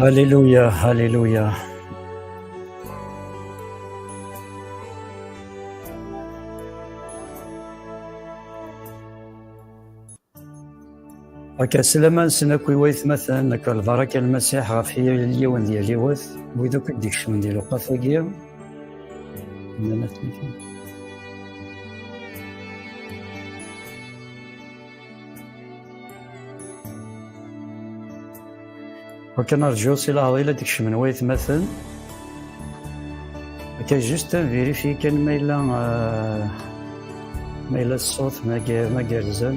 Hallelujah, hallelujah. Akka slama nsen akk i waytmaten akka lbaraka lmasiḥ ɣef yal yiwen d yal yiwet wid akk i d-ikecmen di lewqat-agi nnan-asen Wakken rǧu si leɛḍil ad d-kecmen waytmaten. Akka juste un vérifier kan ma yella euh, ma yella ṣṣut ma gerrzen.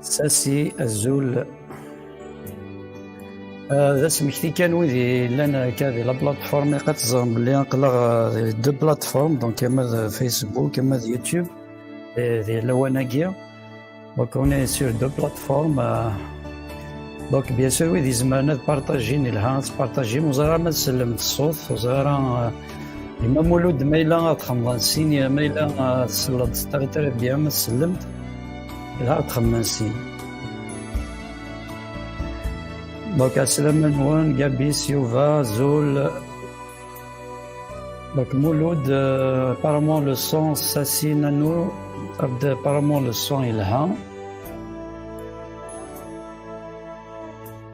Sasi azul euh, d asmekti kan wid yellan akka di la plateforme iqad teẓrem belli aql-aɣ euh, de plateforme donc ama d Facebook ama d YouTube di lawan-agi donc on est sur deux plateformes euh, donc bien sûr wid izemren ad partagin ilha ad partagin ur ẓer ara ma tsellem ṣṣut ur ẓer ara Imam Mulud ma yella ad xemḍen sin ma yella tesleḍ s tariṭri d yam tsellemt yella ad xemḍen sin donc asalamu-nwen Gabis Yuba Zul donc Mulud euh, apparemment le son s'assigne à nous apparemment le son il a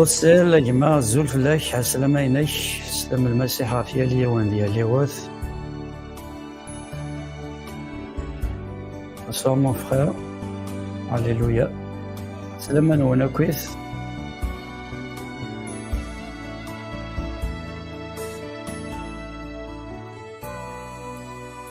Ussel, a gma, zul fell-ak, ɛeslama-inek, slem lmasiḥ ɣef yal yiwen d yal yiwet. Bonsoir mon frère. Alléluia. Slama nwen akk-it.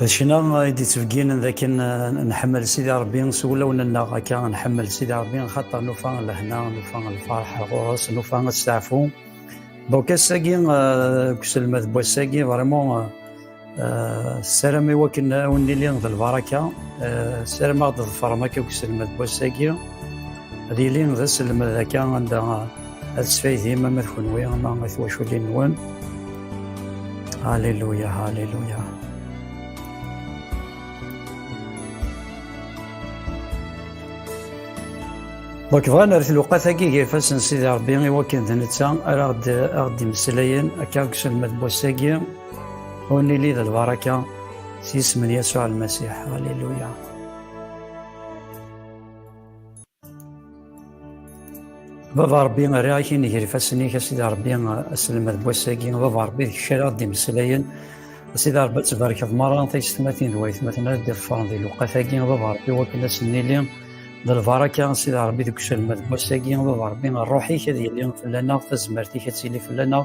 D ccna i d-ittbegginen d akken nḥemmel Sidi Rebbi s wulawen-nneɣ akka nḥemmel Sidi Rebbi xaṭer nufa lehna nufa lferḥ ɣur-s nufa asteɛfu donc ass-agi deg uselmed n wass-agi vraiment ssaram i wakken awen nili d lbaraka ssaram ad ḍefrem akka deg uselmed n wass-agi ad yili d aselmed akka anda Ad sfaydim ama d kunwi ama d twaculin-nwen. Alléluia, Alléluia. Donc bɣan ar tluqat-agi gar ifassen n Sidi Ṛebbi i wakken d netta ara aɣ-d-immeslayen akka deg uselmed n wass-agi ur nili d lbaraka s yisem n Yasuɛ Lmasiḥ. Alléluia. Baba Ṛebbi rriɣ-ak i nnger ifassen-ik, a Sidi Ṛebbi, aselmed n wass-agi, Baba Ṛebbi d kečč ara ɣ-d-imeslayen, a Sidi Ṛebbi ad tbarkeḍ merra taysetmatin d waytmaten ad d-iḍefren di lewqat-agi, Baba Ṛebbi wakken ad sen-nili d lbaraka, a Sidi Ṛebbi deg uselmed n wass-agi, Baba Ṛebbi ṛṛuḥ-ik ad yili fell-aneɣ, tazmert-ik ad tili fell-aneɣ,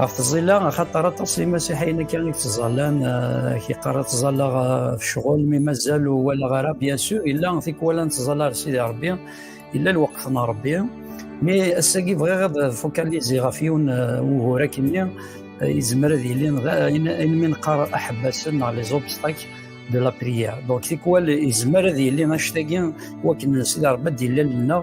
ɣef tẓilla axaṭer aṭas n imasiḥiyen akka i tettẓallan kiqqar ad ttẓallaɣ ɣef ccɣel mi mazal ur walaɣ ara bien sûr illa tikwal ad nettẓalla ar sidi rebbi illa lweqt n rebbi mi ass-agi bɣiɣ ad fokaliziɣ ɣef yiwen wugur akenni yezmer ad yili ayen mi neqqar aḥebbasen neɣ les obstacles de la prière donc tikwal yezmer ad yili anect-agi wakken sidi rebbi ad d-yilal nneɣ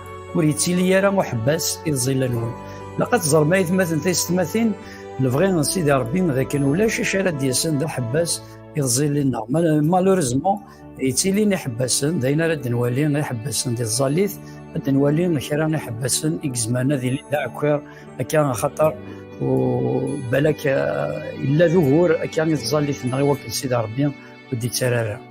ur yettili ara uḥebbas i tẓilla-nwen laqad teẓrem aytmaten taysetmatin lebɣi n sidi rebbi d akken ulac acu ara d-yasen d aḥebbas i tẓilli-nneɣ malurezmo yettilin iḥebbasen d ayen ara d-nwali iḥebbasen di tẓallit ad d-nwali kra iḥebbasen i yezman ad ilin d aɛekkiṛ akka axaṭer balak illa d ugur akka i tẓallit-nneɣ i wakken sidi rebbi ur d-yettara ara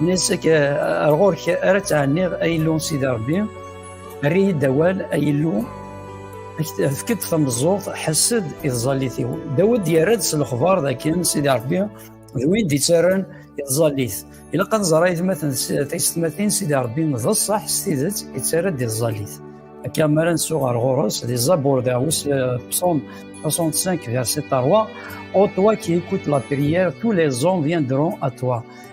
Nessek ar ɣur-k ara ttɛenniɣ ay Illu Sidi Ṛebbi, err-iyi-d awal ay Illu, efk-d tameẓẓuɣt, ḥess-d i tẓallit-iw. Dawed yerra-d s lexbar dakken Sidi Ṛebbi d win d-ittarran i tẓallit. Ilaq ad nẓer aytmaten taysetmatin Sidi Ṛebbi d ṣṣeḥ s tidet ittarra-d i tẓallit. Akka mi ara nsuɣ ar ɣur-s di Zabur dawes psaume 65 verset 3 Ô toi qui écoutes la prière, tous les hommes viendront à toi.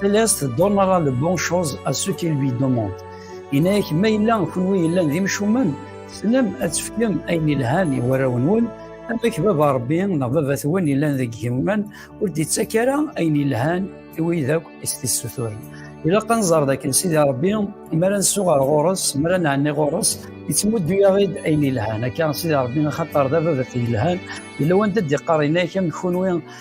Céleste donnera le bon chose à ceux qui lui demandent. Inek ma yella kunwi yellan d imcumen, tessnem ad tefkem ayen yelhan i warraw-nwen, amek baba Rebbi neɣ baba-twen yellan deg yiman ur d-ittak ara ayen yelhan i wid akk i s-tissuturen. Ilaq ad nẓer dakken Sidi Rebbi, mi ara nsu ɣer ɣur-s, mi ara nɛenni ɣur-s, yettmuddu-yaɣ-id ayen yelhan. Akka Sidi Rebbi axaṭer d ababat yelhan, yella wanda d-iqqar inek am kunwi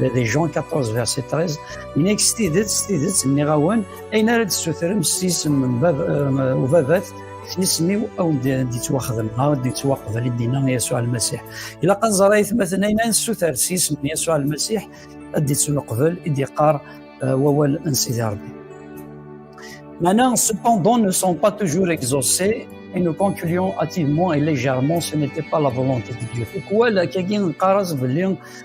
de Dijon 14 verset 13 nnek s tidet s tidet nniɣ-awen ayen ara d-tessutrem s isem n euh, ubabat isem-iw aw d-yettwaxdem aw d-yettwaqbel i d-yenna Yasuɛ Almasiḥ ilaq ad nẓer ayetmaten ayen ara nessuter s isem n Yasuɛ Almasiḥ ad d-yettneqbel i d-yeqqar euh, wawal n Sidi Rebbi Maintenant, cependant, ne sont pas toujours exaucés et nous concluons hâtivement et légèrement, ce n'était pas la volonté de Dieu. Pourquoi la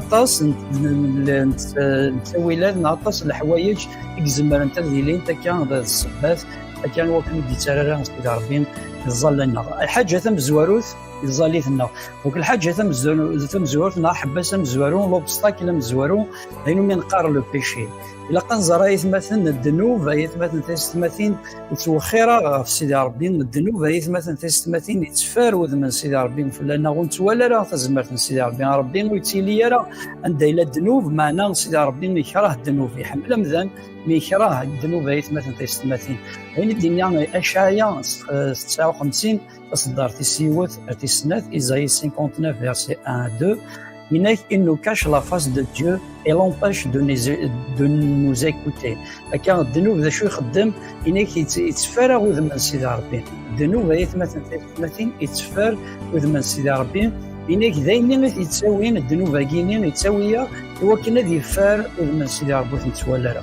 aṭas n ttawilat neɣ aṭas n leḥwayeǧ i izemrent ad ilint akka d ssebbat akka wakken ur d-yettarra Sidi Ṛebbi ẓẓalleneɣ. Lḥaǧa tamezwarut iẓẓallit-nneɣ. Donc lḥaǧa tamezwarut neɣ ḥebbas amezwaru, l'obstacle amezwaru, d ayen umi neqqar le péché. ilaq ad nẓer ayetmaten n ddnub ayetmaten tisetmatin nettwexxir-aɣ ɣef sidi rebbi n ddnub ayetmaten tisetmatin yettfar wudem n sidi rebbi fell-aneɣ ur nettwali ara tazmert n sidi rebbi rebbi ur yettili ara anda yella ddnub maɛna sidi rebbi yekrah ddnub iḥemmel amdan mi yekrah ddnub ayetmaten tisetmatin ayen i d-yenna acaya s 59 taṣeddart tis yiwet ar tis snat, Isaïe 59, verset 1 à 2, Inek, il nous cache la face de Dieu et l'empêche de, de nous écouter. Akka, ddnub d acu ixeddem, inek yetteffer aɣ udem n Sidi Rebbi. Ddnub ay atmaten tatmatin yetteffer udem n Sidi Rebbi. Inek d ayen i t-yettawin ddnub-agi-ni yettawi-aɣ iwakken ad yeffer udem n Sidi Rebbi ur t-nettwali ara.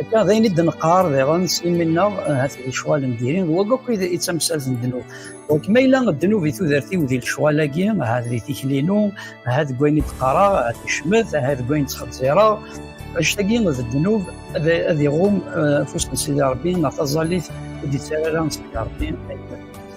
Akka d ayen i d-neqqar diɣen s imi-nneɣ hat di lecɣal n diri d wagi akk i tamsalt n ddnub. Donc ma yella ddnub i tudert-iw di lecɣal-agi, ahat di tikli-inu, ahat deg wayen i d-qqareɣ, ahat di cmet, ahat deg wayen ttxezzireɣ, annect-agi d ddnub ad iɣum afus n Sidi Rebbi neɣ taẓallit ur d-yettara ara n Sidi Rebbi.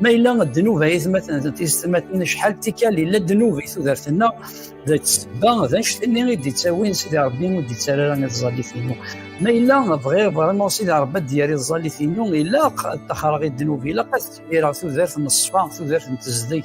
ma yella ddnub ay atmaten d tiztmaten acḥal d tikkal yella ddnub i tudert-nneɣ d ssebba d anect-nni i d-ittawin sidi rebbi ur d-ittar ara iẓẓallit-inu ma yella bɣiɣ vraiment sidi rebbi ad d-yerr iẓẓallit-inu ilaq ad taxreɣ i ddnub ilaq ad tbireɣ tudert n ṣṣfa tudert n tezdeg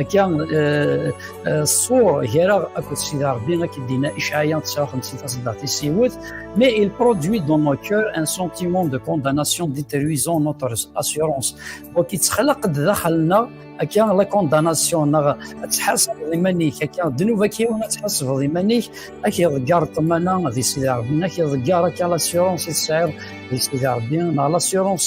Akka eh, eh, ṣṣur gar-aɣ akked Sidi Ṛebbi akka d-inna Icaɛya 59 taṣeddart i s-iwet mais il produit dans nos cœurs un sentiment de condamnation détruisant notre assurance donc yettxalaq-d daxel-nneɣ akka la condamnation neɣ ad tḥasbeḍ iman-ik akka ddnub akka yiwen ad tḥasbeḍ iman-ik ad k-iḍeggar ṭṭmana di Sidi Ṛebbi ad k-iḍeggar akka l'assurance i tesɛiḍ di Sidi Ṛebbi neɣ l'assurance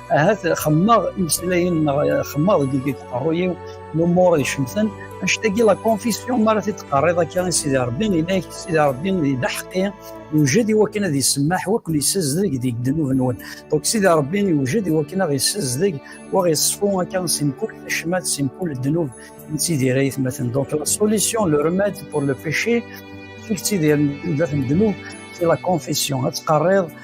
ahat xemmeɣ imeslayen-nneɣ xemmeɣ deg deg tqerruy-iw lumuṛ icemten anect-agi la confession mi ara t-id-teqqariḍ akka i Sidi Ṛebbi ilayk Sidi Ṛebbi di leḥqi yewjed i wakken ad yessemmaḥ wa ken yessazdeg deg ddnub-nwen donc Sidi Ṛebbi yewjed i wakken ad yessazdeg wa ɣ-yeṣfu akka si mkul tacmat si mkul ddnub nettidir ayetmaten donc la solution le remède pour le péché ur tettidir dat n ddnub c'est la confession ad teqqariḍ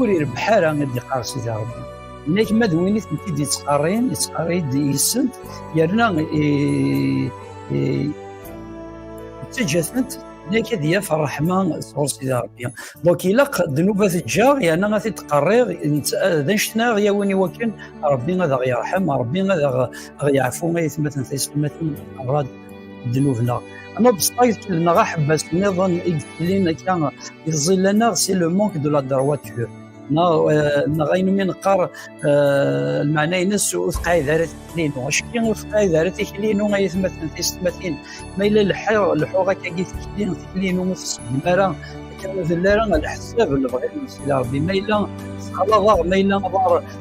ur irebbeḥ ara ad iqqar sidi rebbi nek ma d win i tent-id yettqarrin yettqarri-d yis-sent yerna ittaǧǧa-tent nek ad yaf ṛṛeḥma sɣur sidi rebbi donc ilaq ddnuba teǧǧaɣ yerna ad t-id-qerriɣ d anect-nni ad yawin i wakken rebbi ad aɣ-yerḥem rebbi ad aɣ-yeɛfu ay atmaten tayeslimatin rad ddnub-nneɣ. Anobstaj neɣ aḥebbas niḍen i yetlin akka iẓilan-aɣ si le manque de la droiture neɣ neɣ ayen umi neqqar lmeɛna-nnes ur teqɛid ara tikli-inu acki ur teqɛid ara tikli-inu ay atmaten tiyessetmatin ma yella lḥiɣ lḥuɣ akka gi tikli tikli-inu ur tessegdem ara akka ur tella ara leḥsab lebɣi-nnes ila rebbi ma yella tessexlaḍ-aɣ ma yella aḍar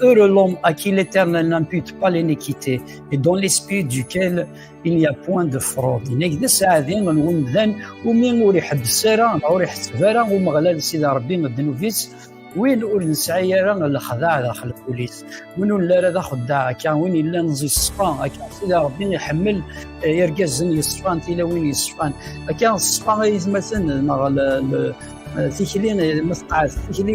Heureux l'homme à qui l'Éternel n'impute pas l'iniquité et dans l'esprit duquel il n'y a point de fraude. Nek de saadi n wemdan umi ur iḥebbes ara neɣ ur iḥesseb ara Umeɣlal Sidi Rebbi ddnub-is win ur nesɛi ara lexdaɛ daxel ul-is win ur ara d axeddaɛ akka win yellan yeṣfa akka Sidi Rebbi iḥemmel irgazen yeṣfan tilawin yeṣfan akka ṣfa ay tmaten neɣ tikli ma teqɛed tikli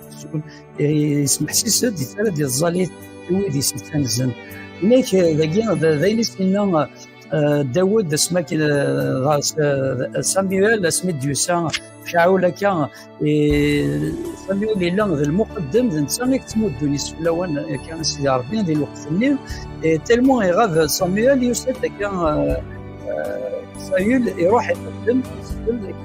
yesmeḥsis-d yettara d iẓẓalit i wid yesmettan zzem nek dagi d ayen i s-inna Dawed asmi akken ɣer Samuel asmi d-yusa Caɛul akka Samuel yella d lmuqeddem d netta i yettmuddun iseflawen akka a Sidi Rebbi di lweqt-nni tellement iɣab Samuel yusa-d akka Saül iruḥ iqeddem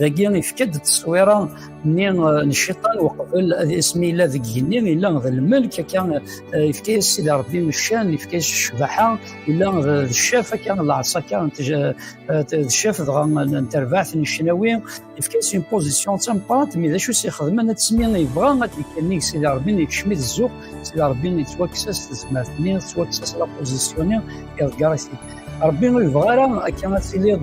dagi ifka-d tteswira nni eh, n cciṭan uqbel ad ismi yella deg igenni yella d lmelk akka eh, ifka-yas sidi rebbi ccan ifka-yas ccbaḥa yella d ccaf akka d lɛeṣa akka eh, d ccaf dɣa n terbaɛt n ccnawi ifka-yas une position d tameqqrant mi d acu s-ixedmen ad tesmi yebɣa ad d-ikannig sidi rebbi yekcem-it zzux sidi rebbi yettwakkes-as tezmert-nni yettwakkes-as la position-nni iḍegger-it rebbi ur yebɣa ara akka ad tiliḍ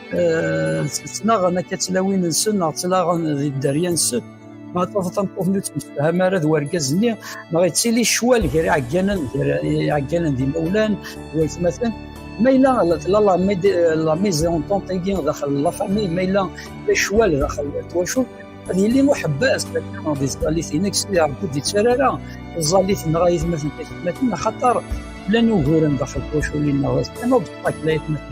eh, ttnaɣen akka tlawin-nsen neɣ ttlaɣen di dderya-nsen ma tafeḍ tameṭṭut ur ttemsefham ara d wergaz-nni neɣ yettili ccwal gar iɛegganen gar iɛegganen d imawlan d waytmaten ma yella la maison tontingi daxel la famille ma yella la ccwal daxel twacult ad yili uḥebbas di tẓallit-inek sidi Rebbi ur d-yettara ara tẓallit neɣ ayetmaten tayetmaten axaṭer llan uguren daxel twacul-inneɣ d kan obstacle ayetmaten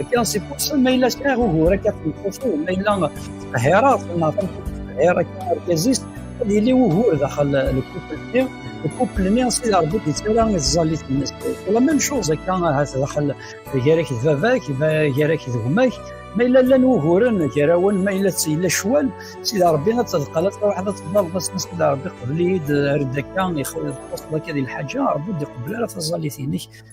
Akken a s-ifusen ma yella sɛiɣ ugur akka t-ifusen ma yella ttqehhireɣ neɣ tameṭṭut akka argaz-is ad yili ugur daxel lkufel-nni lkufel-nni s id Rebbi d-yettara iẓẓallit-nnes la même chose akka ahat daxel gar-ak d baba-k gar-ak d gma-k ma yella llan wuguren gar-awen ma yella yella ccwal s id Rebbi ad tedqal ad tṛuḥeḍ ad tebdaḍ s id Rebbi qbel-iyi-d redd akka ixuṣṣeḍ akka di lḥaǧa Rebbi ur d-iqebbel ara taẓallit-nnek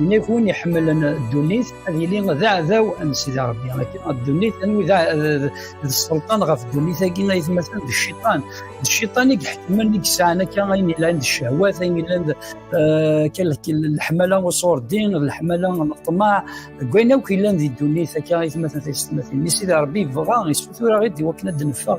Ini ɣef win iḥemmlen ddunit ad yili d aɛdaw n Sidi Ṛebbi. Ddunit anwi d sselṭan ɣef ddunit-agi ay tmatan d cciṭan. D cciṭan i iḥekmen i yesɛan akka ayen yellan d ccehwat, ayen yellan d eh, leḥmala uṣurdin, leḥmala n ṭṭmeɛ, deg wayen akk yellan di ddunit akka ay tmatan tayessetmatin. Sidi Ṛebbi yebɣa, yessutur-aɣ-id i wakken ad d-neffeɣ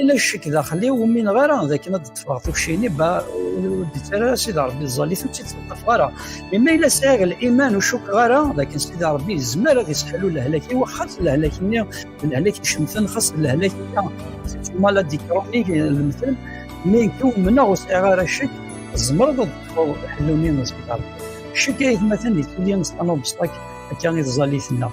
Ila ccek daxel-iw ur mineɣ ara d akken ad d-ṭṭfeɣ tukcini ba ur d-ittara ara Sidi Ṛebbi ẓẓalit ur tt-id-teṭṭef ara. Mi ma yella sɛiɣ liman ur cukkeɣ ara d akken Sidi Ṛebbi yezmer ad yesseḥlu lehlak-iw xas lehlak-nni d lehlak icemten xas d lehlak-nni tuma la d-ikṛuḥ-ik lemtel mi nekk umneɣ ur sɛiɣ ara ccek tzemreḍ ad d-ṭṭfeḍ ḥellu-nni n Sidi Ṛebbi. Ccek ayetmaten yettili s tanuḍbesṭak akka i tẓallit-nneɣ.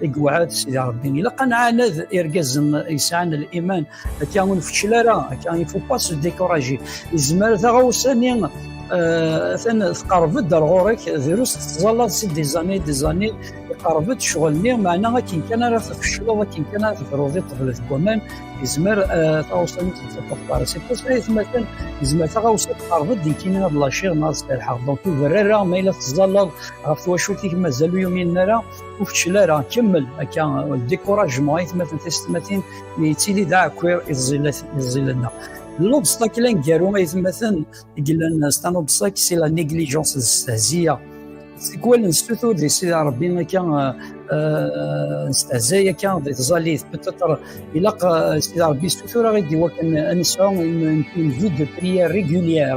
deg uɛad sidi rebbi ilaq ad nɛaned irgazen yesɛan liman akka ur nfeccel ara akka ifuppa s découragé yezmer taɣawsa-nni atan tqerreb-d ar ɣur-k drus tettẓallaḍ si des années des années iqerreb-d ccɣel-nni meɛna akken kan ara tfeccleḍ akken kan ara tefruḍ i ṭeblet n waman yezmer taɣawsa-nni tettafeḍ para c'est pour ça aytmaten yezmer taɣawsa tqerreb-d nekkini ad laciɣ neɣ ad serḥeɣ donc ur berri ara ma yella tettẓallaḍ ɣef twacult-ik mazal ur yumin ara ur fecel ara kemmel akka découragement ay tmatin tisetmatin mi yettili d aɛekkiṛ i tẓilat-nneɣ l obstacle aneggaru ay tmatin i yellan s tan obstacle c'est la négligence d stehziya tikwal nestutur di sidi rebbi akka nestehzay akka di tẓalit peut-être ilaq sidi rebbi stutur aɣ-id iwakken ad nesɛu une vie de prière régulière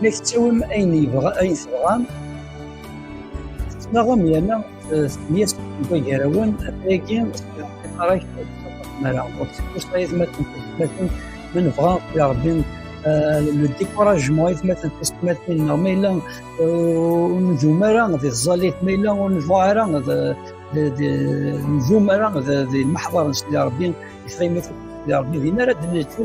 Ma tettawim ayen yebɣa ayen tebɣam, tettnaɣem yerna tmenyas tagarawen atayagi tiqarak mara ur tfus ayetmaten ayetmaten ma nebɣa ya Rebbi le découragement ayetmaten tismatin neɣ ma yella ur nzum ara di tẓallit ma yella ur nebɣa ara nzum ara di lmeḥḍar n Sidi Rebbi ifaymaten Sidi Rebbi din ara d-neltu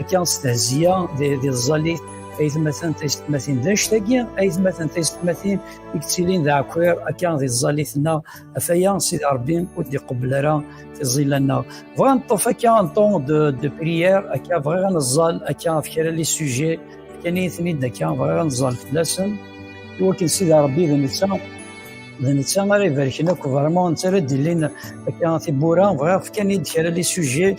Akka s tehziya d iẓẓalit aytmaten taysetmatin d anect-agi aytmaten taysetmatin i yettilin d aɛkwir akka d iẓẓalit-nneɣ afaya sidi rebbi ur d-iqebbel ara tiẓilla-nneɣ bɣa neṭṭef akka un ton de, de prière akka bɣiɣ ad neẓẓal akka ɣef kra li sujet kan i ten-id akka bɣiɣ ad neẓẓal fell-asen iwakken sidi rebbi d netta d netta ara ibarken akk vraiment netta ara d-ilin akka tibbura bɣiɣ fkan-id kra li sujet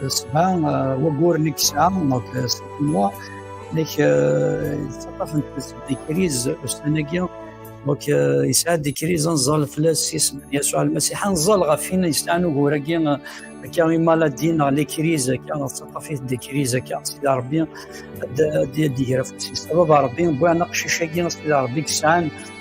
Ṣṣba wagguren i yesɛa s tkunwa nek yettaṭṭaf n tikriz ussan-agi nek yesɛa tikriz anẓal fell-as isem n Yasuɛ Almasiḥ anẓal ɣef win yesɛan ugur-agi akka i maladi neɣ likriz akka tettaṭṭaf-it tikriz akka sida Rebbi ad d-iger afus-is baba Rebbi wwan aqcic-agi sida Rebbi yesɛan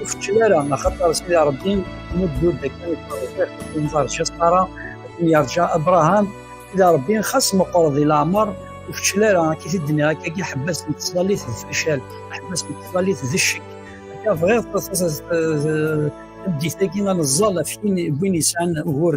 ur feččel ara axaṭer sidi rebbi muddud akken iṭṭerrifiq unẓar cesqara akken yerǧa abraham sidi rebbi xas meqqer di leɛmer ur feččel ara akka i d-nniɣ akka i ḥebbas n teslalit d facal ḥebbas n teslalit d ccek akka bɣiɣ tameddit-agi ad neẓẓal ɣef win yesɛan ugur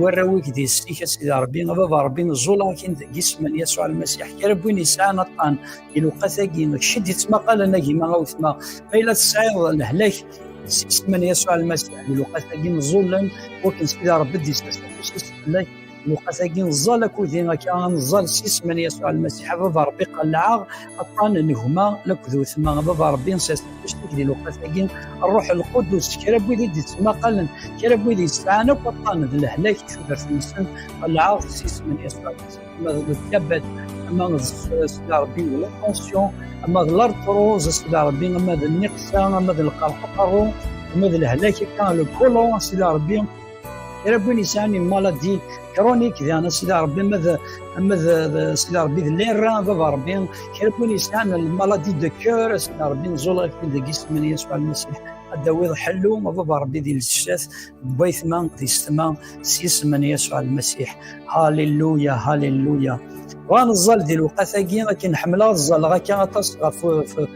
warraw-ik di s-ik a sidi rebbi a baba rebbi neẓẓul akin deg isem n yasuɛ lmasiḥ kra n win yesɛan aṭṭan iluqa tagi cced yettmaqalen agima awetma ma yella tesɛiḍ lehlak s isem n yasuɛ lmasiḥ iluqa tagi neẓẓulen wakken sidi rebbi d-yesɛas fell-ak iluqa tagi neẓẓal akudi akka neẓẓal s isem n yasuɛ lmasiḥ a baba rebbi qellɛeɣ aṭan n gma laked wetma baba rebbi nsiɛsbectik di lewqat-agi ṛṛuḥ lqudus kra n wid i d-ittmaqalen kra n wid yesɛan akk aṭan d lehlak tudert-nsen qelɛeɣ s isem n Yeṣuɛ ma d lkabat ma d sida rebbi d latension ma d lartruz sida rebbi ma d nniqsa ma d lqerḥ uqerru ma d lehlak akka le kolon sida rebbi Era win yesɛan une maladie chronique diɣen Sidi Ṛebbi ma d ma d Sidi Ṛebbi d lirra baba Ṛebbi kra n win yesɛan maladie de cœur Sidi Ṛebbi nẓul ak deg isem-nni Yasuɛ Lmasiḥ ad d-tawiḍ ḥellu a baba Ṛebbi di lsat d waytma di setma s yisem-nni Yasuɛ Lmasiḥ Halleluya Halleluya bɣa neẓẓal di lewqat-agi akken ḥemmleɣ ad ẓẓaleɣ akka aṭas ɣef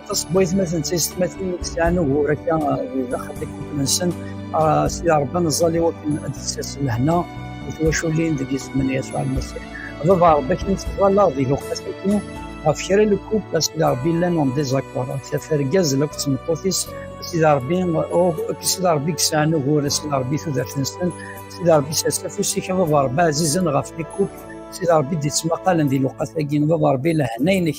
aṭas n waytmaten d taysetmatin i yesɛan ugur akka di daxel tikelt-nsen s tida Rebbi ad neẓẓal i wakken ad d-tessers lehna d twaculin deg yisem n Yasuɛ Lmasiḥ. Baba Rebbi akken tettwalaḍ deg uqasaki ɣef kra n lkub a sida Rebbi llan en désaccord ɣef tafat argaz akked tmeṭṭut-is a sida Rebbi akked sida Rebbi yesɛan ugur a sida Rebbi tudert-nsen a sida Rebbi sers afus-ik a baba Rebbi ɛzizen ɣef lkub a sida Rebbi d-yettmaqalen di lewqat-agi baba Rebbi lehna-inek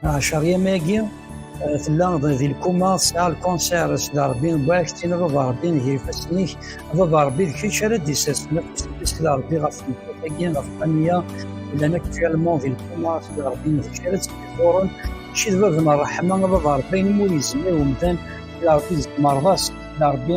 Ɛecṛiyam-agi eh, tella di lkuma tesɛa lkunṣir sda Rebbi Bwac tin baba Rebbi n yifassen-ik baba Rebbi d kečč ara d-isasfen afus-nni sda Rebbi ɣef tmeṭṭut-agi ɣef Qaniya llan akk firlement di lkuma sda Rebbi n kečč ara tt-ifuren kečč d bab n ṛṛeḥma baba Rebbi ayen ur yezmir umdan sda Rebbi d tmerḍa sda Rebbi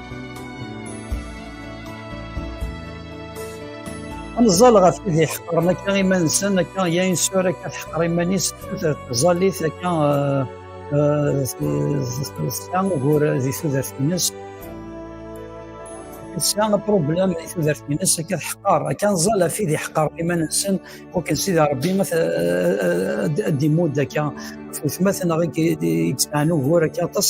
Anẓal ɣef wid iḥeqren akka iman-nsen akka ya insur akka teḥqer iman-is tudert ẓallit akka eh, eh, tesɛa ugur di tudert-nnes tesɛa apṛublam di tudert-nnes akka teḥqer akka anẓal ɣef wid iḥeqren iman-nsen wakken sidi Ṛebbi ma ad d-imudd akka ɣef wetma-ten neɣ i yesɛan ugur akka aṭas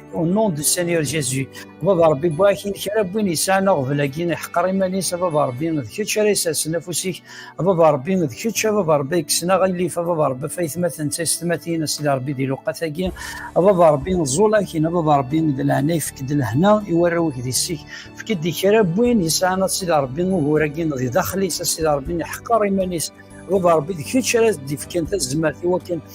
Au nom du Seigneur Jésus. Baba Rabbi, bɣa kra n win yesɛan aɣbel-agi, iḥqer iman-is, a Baba Rabbi, d kečč ara isersen afus-ik, a Baba Rabbi, d kečč, a Baba Rabbi, kksen aɣilif, a Baba Rabbi, faytmaten d taysetmatin, a Sidi Rabbi, di luqat-agi, a Baba Rabbi, ẓẓul akin, a Baba Rabbi, d leɛna ifek-d lehna i warraw-ik di sik, fek-d kra n win yesɛan a Sidi Rabbi, ugur-agi di daxel-is, a Sidi Rabbi, iḥqer iman-is, Baba Rabbi, d kečč ara d-ifkan tazmert i wakken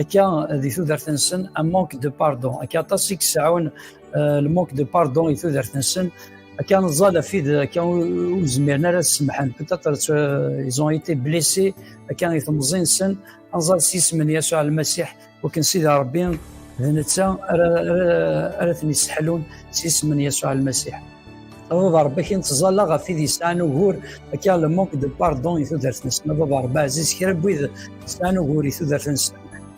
akka di tudert-nsen un manque de pardon akka aṭas i yesɛun le manque de pardon i tudert-nsen akka neẓẓal ɣef wid akka ur zmiren ara ad semḥen peut-être ils ont été blessés akka i temẓi-nsen anẓal s yisem n Yasuɛ Lmasiḥ wakken Sidi Ṛebbi d netta ara ten-yesseḥlun s yisem n Yasuɛ Lmasiḥ Baba Rebbi akin tẓalla ɣef wid yesɛan ugur akka le manque de pardon i tudert-nsen Baba Rebbi ɛziz kra n wid yesɛan ugur i tudert-nsen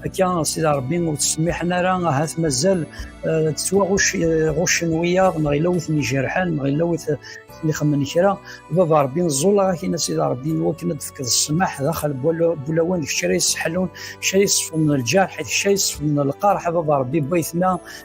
akka Sidi Rebbi ur ttsemmiḥen ara ahat mazal eh, ttwaɣuccen eh, wiyaḍ neɣ yella wi ten-ijerḥen neɣ yella wi ten-ixemmen kra Baba Rebbi nẓul ɣef akin Sidi Rebbi wakken ad d-tefkeḍ ssmaḥ daxel bulawan d kra yesseḥlun kra yesfeḍnen lǧerḥ kra yesfeḍnen lqerḥ Baba Rebbi baytma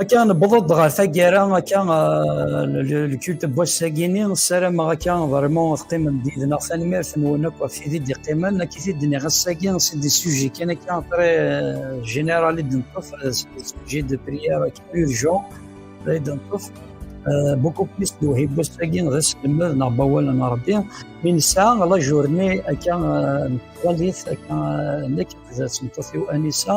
Akka newweḍ-d ɣer taggara akka lkult n wass-agini ssarameɣ akka vraiment teqqimem d-yid-neɣ tanemmirt-nwen akk ɣef tid i d-iqqimen akka i t-id-nniɣ ass-agi si des sujets kan akka très général i d-neṭṭef sujet de prière akka urgent i d-neṭṭef beaucoup plus d uhib wass-agi d aselmed neɣ d awal n Rebbi mi nesɛa la journée akka n twalit akka nekk d tmeṭṭut-iw Anisa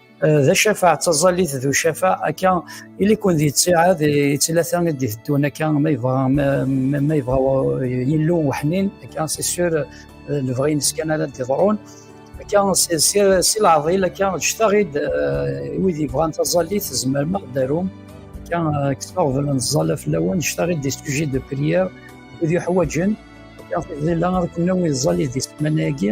d acafaɛ d taẓallit d ucafaɛ akka ili-ken di ttiɛad i ttilata i d-iteddun akka ma yebɣa ma yebɣa yillu weḥnin akka c'est sûr lebɣi-nnes kan ara d-iḍrun akka si leɛḍil akka ǧǧet-aɣ-id wid yebɣan taẓallit tzemrem ad d-tarum akka kkseɣ blan ẓẓala fell-awen ǧǧet-aɣ-id des sujets de prière wid yuḥwaǧen akka tizilla ad ken-nawi ẓẓallit di semana-agi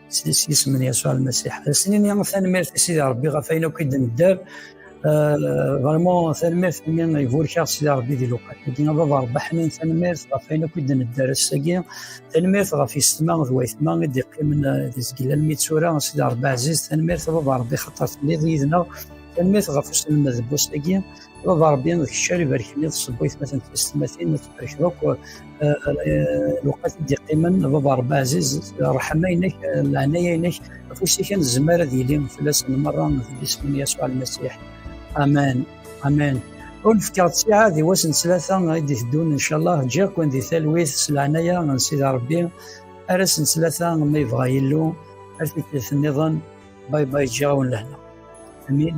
s yisem n Yasuɛ Lmasiḥ. Snin-ya tanemmirt i Sidi Rebbi ɣef ayen akk i d-nedder. Vraiment euh, tanemmirt imi iburek-aɣ Sidi Rebbi di lewqat. Agi a baba Rebbi ḥnin tanemmirt ɣef ayen akk i d-nedder ass-agi. Tanemmirt ɣef yissetma d wayetma i d-iqqimen euh, di zgel almi tura Sidi Rebbi ɛziz. Tanemmirt a baba Rebbi xaṭer telliḍ yid-neɣ. Tanemmirt ɣef uselmed n wass-agi. Ṛebbi Ṛebbi d kečč ara ibarken i tṣebbu aytmaten tmeslimatin ad tbarkeḍ akk lewqat i d-iqqimen baba Ṛebbi ɛziz ṛṛeḥma-inek leɛnaya-inek afus-ik ad nezmer ad yili fell-asen merra di yisem n Yasuɛ Lmasiḥ amen amen ur nefkaɣ ttiɛad i wass n ttlata i d-iteddun incallah ǧǧiɣ-ken di talwit s leɛnaya n Sidi Ṛebbi ar ass n ttlata ma yebɣa Yillu ar tikkelt-nniḍen bay bay ǧǧiɣ-awen lehna amin